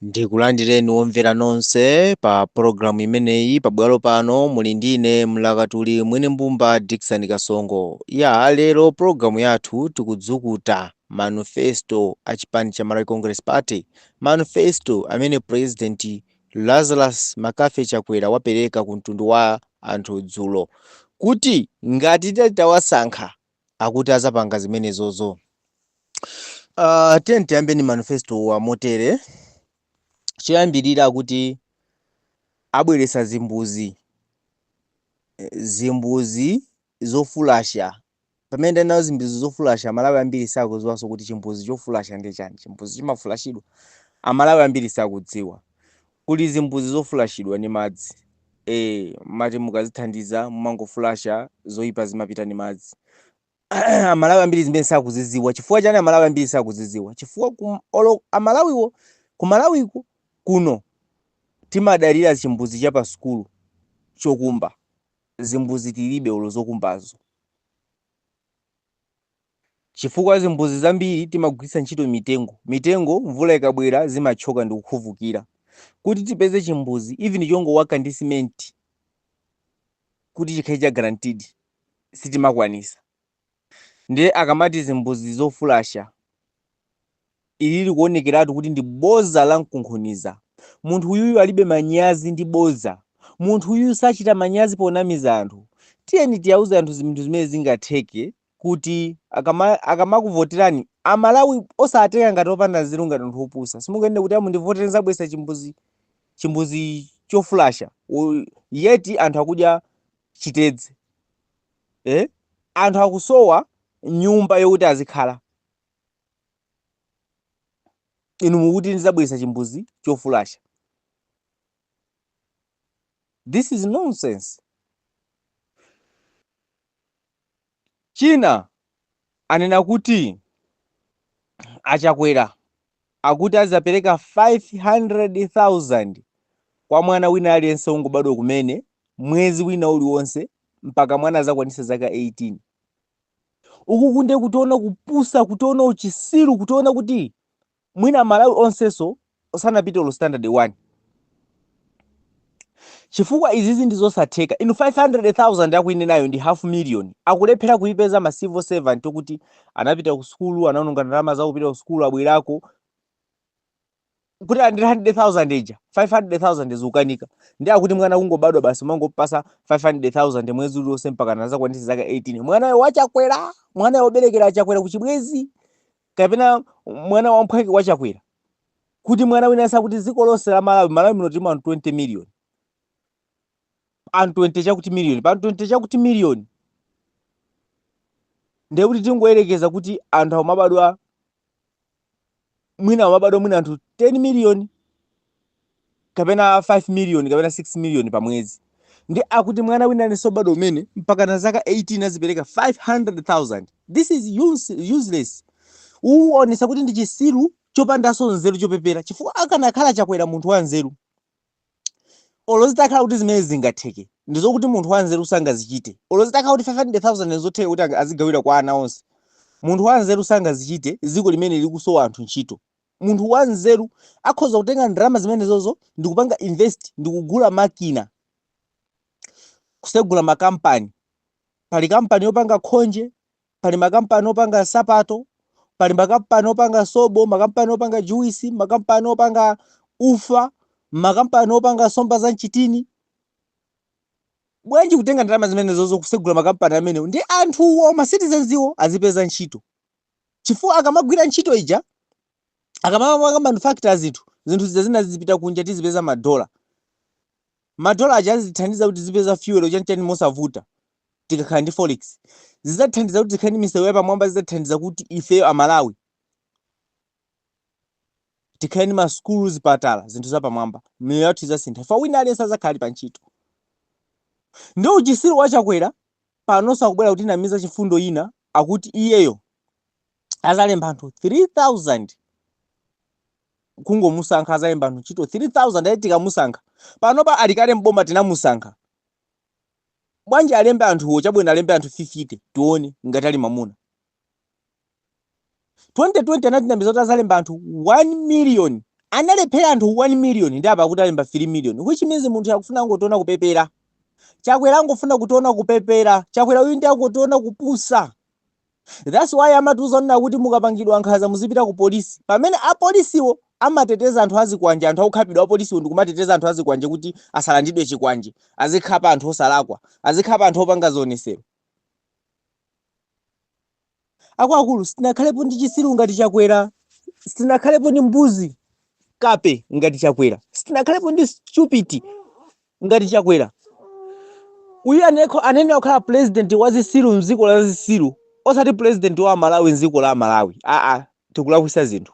ndikulandireni omvera nonse pa pologalamu imeneyi pabwalo pano muli ndine mlakatuli mwene mbumba dickson kasongo ya lero pologalamu yathu tikudzukuta manifesto a chipani cha malawi congress party manifesto amene purezidenti Lazarus McCarthy Chakwera wapereka ku mtundu wa anthu dzulo kuti ngati titawasankha akuti azapanga zimenezozo. Uh, tiyeni tiyambeni manifesto wa motere choyambirira akuti abweresa zimbuzi zimbuzi zofulasha Pamene ndanena zimbuzi zofulasha amalawi ambiri sakuziwaso kuti chimbuzi chofulasha ndiye chani chimbuzi chimafulashidwa amalawi ambiri sakudziwa kuli zimbuzi zofulashidwa ni madzi ee mmati mukazithandiza mumangofulasha zoipa zimapita ni madzi amalawi ambiri zimenezi sakuziziwa chifukwa chani amalawi ambiri sakuziziwa chifukwa olo amalawiwo kumalawiku kuno timadalira chimbuzi chapasukulu chokumba Zimbudzi tilibe olo zokumbazo. Chifukwa zimbudzi zambiri timagwiritsa ntchito mitengo. Mitengo mvula ikabwera zimathyoka ndikukhuvukira. Kuti tipeze chimbudzi even chongowaka ndi simenti kuti chikhale cha guaranteed sitimakwanisa. Ndiye akamati zimbudzi zofulasha, ili likuonekeratu kuti ndi boza la mkunkhuniza. Munthu uyuyu alibe manyazi ndi bodza. Munthu uyuyu sachita manyazi ponamiza anthu. Tiyeni tiyauze anthu zinthu zimene zingatheke kuti akamakuvoterani, a Malawi osawatenga ngati opanda nzeru ngati anthu opusa. Simunganene kuti a mundivotere nzabweresa chimbuzi chimbuzi chofulasha yet anthu akudya chitedze. eh? anthu akusowa nyumba yokuti azikhala inu mukuti ndizabweresa chimbuzi chofulasha this is nonsense china anena kuti achakwera akuti azapereka 500,000 kwa mwana wina aliyense wongobadwa kumene mwezi wina uliwonse mpaka mwana azakwanise zaka 18. Ukuku nde kutiona kupusa, kutiona uchisiru, kutiona kuti mwina Amalawi onsenso sanapite olo standard 1. chifukwa izizi ndizosatheka inu 500000 akuinenayo ndi half million akulephera kuipeza ma civil servant okuti anapita ku sukulu anaononga ndalama zawo kupita ku sukulu abwerako kuti ali ndi 100000 ija 500000 zikukanika ndi akuti mwana kungobadwa basi kumangopasa 500000 mwezi uliwonse mpaka anazakwanitsa zaka 18 mwanayo wachakwera mwana woberekera achakwera kuchibwezi kapena mwana wamphwake wachakwera kuti mwana wina aliyense akuti dziko lonse la malawi malawi muno tilimu anthu 20 million anthu pa 20 chakuti million pa 20 chakuti million ndiye kuti tingoyerekeza kuti anthu amabadwa mwina amabadwa mwina anthu 10 million kapena 5 million kapena 6 million pa mwezi ndi akuti mwana wina aliyense obadwa umene mpakana zaka 18 azipereka 500,000 this is use, useless uonesa kuti ndi chisiru chopandanso nzeru chopepera chifukwa akanakhala chakwera munthu wa nzeru olo zitakhala kuti zimene zingatheke ndizokuti munthu wa nzeru sangazichite olo zitakhala kuti 500,000 ndizotheka kuti anga- azigawira kwa ana onse munthu wa nzeru sangazichite dziko limene likusowa anthu ntchito Munthu wanzeru akhoza kutenga ndalama zimenezozo ndikupanga invest ndikugula makina, kusegula makampani. Pali kampani yopanga khonje, pali makampani opanga nsapato, pali makampani opanga sobo, makampani opanga juwisi, makampani opanga ufa, makampani opanga nsomba za mchitini. Bwanji kutenga ndalama zimenezozo kusegula makampani amenewo ndi anthuwo ma citizens wo azipeza ntchito. chifukwa akamagwira ntchito ija akamapanga manufacture zinthu zinthu zija zina zizipita kunja tizipeza madola madola aja azithandiza kuti tizipeza fuel chanichani mosavuta tikakhala ndi forex zidzathandiza kuti tikhale ndi misewu yapamwamba zizathandiza kuti ifeyo amalawi Tikhale ndi masukulu, zipatala, zinthu zapamwamba, miyoyo yathu idzasintha chifukwa wina aliyense adzakhala ali pa ntchito. Nde uchisiru wa Chakwera panoso akubwera kutinamiza chimfundo china akuti iyeyo azalemba anthu 3000 kungomusankha azalemba anthu ntchito 3000 ati tikamusankha panopa ali kale m'boma tinamusankha bwanji alembe anthuwo chabwino alembe anthu 50 tione ngati ali mamuna 2020 anatinamiza kuti azalemba anthu 1 million analephera anthu 1 million ndi apa akuti alemba 3 million which means munthu akufuna angotiona kupepera chakwera angofuna kutiona kupepera chakwera uyu ndi angotiona kupusa that's why amatiuza kunena kuti mukapangidwa nkhanza muzipita ku polisi pamene apolisiwo amateteza anthu azikwanje anthu akukhapidwa apolisiwo ndikumateteza anthu azikwanje kuti asalandidwe chikwanje azikhapa anthu osalakwa azikhapa anthu opanga zionesero Akuluakulu sitinakhalepo ndi chisiru ngati Chakwera, sitinakhalepo ndi mbuzi kape ngati Chakwera, sitinakhalepo ndi stupid ngati Chakwera. Uyu anene akhala president wa zisiru mdziko la zisiru osati president wa Amalawi mdziko la Amalawi aa tikulakwisa zinthu.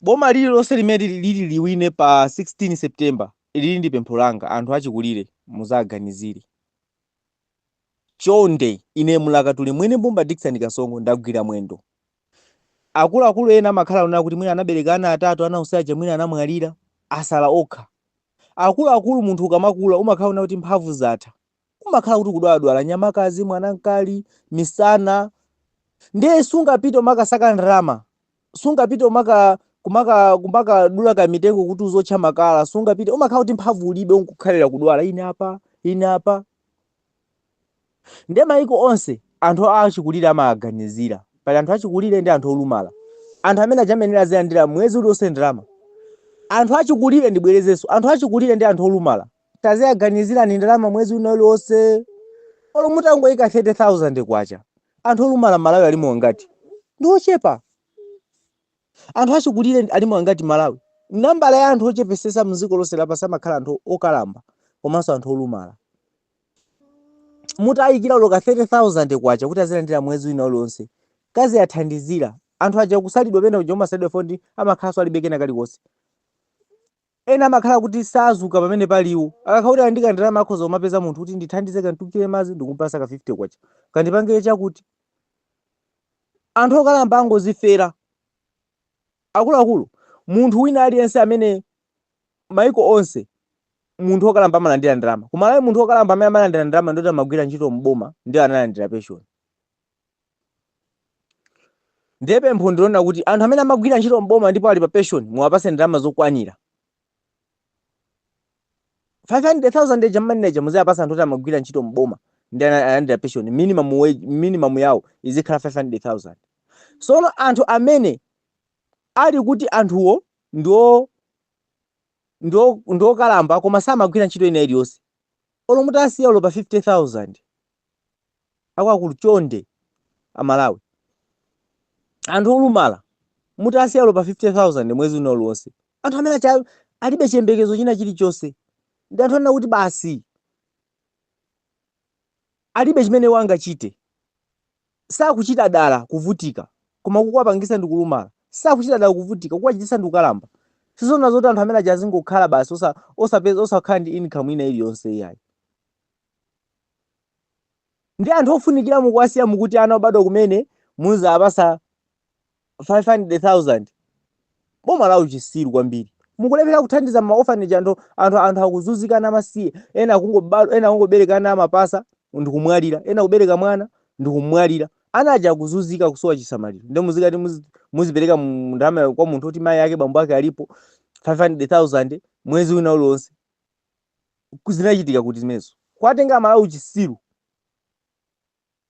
boma lililonse limene lili liwine pa 16 September lili ndi pempho langa anthu achikulire muzaganizire chonde ine mlakatuli mwene Mbumba Dickson Kasongo ndagwira mwendo akuluakulu ena amakhala kunena kuti mwina anabereka ana atatu ana onse aja mwina anamwalira asala okha akuluakulu munthu ukamakula umakhala kunena kuti mphamvu zatha umakhala kuti kudwaladwala nyamakazi mwanamkali misana ndiye sungapite umakasaka ndalama sungapite umaka kumaka kumakadula kamitengo kuti uzotcha makala sungapite umakhala kuti mphamvu ulibe unkukhalira kudwala ine apa ine apa ndiye mayiko onse anthu achikulire amaganizira pali anthu achikulire ndi anthu olumala anthu amene ajamenera azilandira mwezi uliwonse ndalama anthu achikulire ndibwerezenso anthu achikulire ndi anthu olumala Taziwaganizirani ndalama mwezi wina uliwonse olo mutangoyika K30,000 anthu olumala Malawi alimo angati? Ndiochepa. Anthu achikulire alimo angati Malawi? Nambala ya anthu ochepesesa mziko lonse lapansi amakhala anthu okalamba komanso anthu olumala. Mutayikira olo ka K30,000 kuti azilandira mwezi wina uliwonse kaziwathandizira. Anthu aja kusalidwa pena uja umasalidwa fo ndi amakhalanso alibe kena kalikonse. Ena amakhala kuti sazuka pamene pali iwo. Akakhala kuti ali ndi kandalama akhoza kumapeza munthu kuti ndithandize kanditungire madzi ndikupasa ka K50, kandipangire chakuti. Anthu okalamba angozifera. Akuluakulu, munthu wina aliyense amene maiko onse munthu okalamba amalandira ndalama. Ku Malawi munthu okalamba amene amalandira ndalama ndi oti amagwira ntchito m'boma ndiye analandira peshoni. ndiye pempho ndilonena kuti anthu amene amagwira ntchito mboma ndipo ali pa pension muwapase ndalama zokwanira 500,000 eja mmanena muziwapasa anthu oti amagwira ntchito mboma ndi ana- analandira pension minimum wage minimum yawo izikhala 500,000 sono anthu amene ali kuti anthuwo ndiwo ndiwo ndiokalamba koma samagwira ntchito ina iliyonse olo mutasiya olo pa 50000 Akuluakulu chonde a Malawi anthu olumala mutasiya olo pa 50,000 mwezi wina uliwonse anthu amene aja alibe chiyembekezo china chilichonse ndi anthu onena kuti basi alibe chimene iwo angachite sakuchita dala kuvutika koma kukuwapangisa ndi kulumala sakuchita dala kuvutika kukuwachitisa ndi kukalamba sizona zoti anthu amene aja azingokhala basi osa, osapeza osakhala ndi income ina iliyonse iyayi ndi anthu ofunikira mukuwasiya mukuti ana obadwa kumene muzawapasa 500,000 boma la uchisiru kwambiri mukulephera kuthandiza ma orphanage anthu anthu anthu akuzunzika ana amasiye ena akungobadwa ena akungobereka ana amapasa ndikumwalira ena kubereka mwana ndikumwalira ana aja akuzunzika kusowa chisamaliro nde muzikati muzi- muzipereka mu- ndalama kwa munthu oti mayi ake bambo ake alipo 500,000 mwezi wina uliwonse zinachitika kuti zimenezo? Kuwatenga amalawi uchisiru.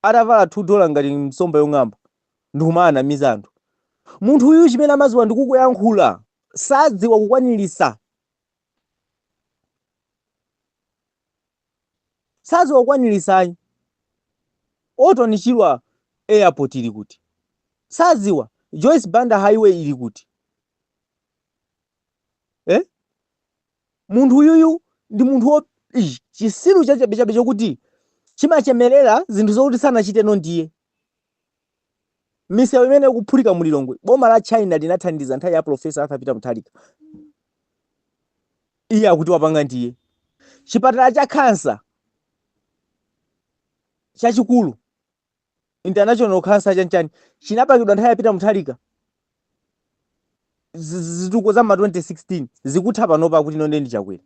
Atavala 2 dollar ngati nsomba yong'amba ndikumawanamiza anthu. Munthu uyu chimene amaziwa ndikuyankhula. Sadziwa kukwanilisa. Sadziwa kukwanilisa ayi. Orton Chirwa airport ili kuti? Sadziwa. Joyce Banda highway ili kuti? eh? munthu uyuyu ndi munthu wo- ish, chisiru chachabechabe chokuti chimachemerera zinthu zokuti sanachite ndiye misewu imene ikuphulika mu lilongwe boma la china linathandiza nthawi ya profesa arthur peter mutharika iye akuti wapanga ndiye chipatala cha khansa chachikulu international cancer chanchani chinapangidwa nthawi ya peter mutharika Z- z- zituko za ma 2016 zikutha panopa akuti ine ndendi chakwera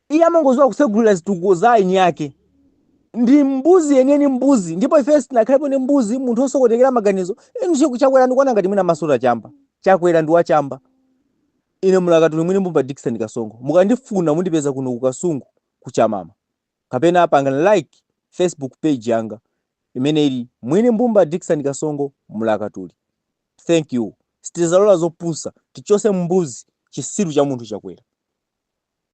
iye amangoziwa kusegulira zituko za eni ake ndi mbuzi yeniyeni mbuzi ndipo ife sitinakhalepo ndi mbuzi munthu osokonekera maganizo inu chiku chakwera ndikuona ngati mwina amasuta chamba chakwera ndi wachamba ine mulakatuli mwini mbumba dikson kasongo mukandifuna mundipeza kuno ku kasungu kuchamama kapena pangani like Facebook page yanga imene ili Mwini Mbumba Dickson Kasongo Mlakatuli. Thank you. Sitizalola zopusa, tichose mbuzi chisiru cha munthu Chakwera.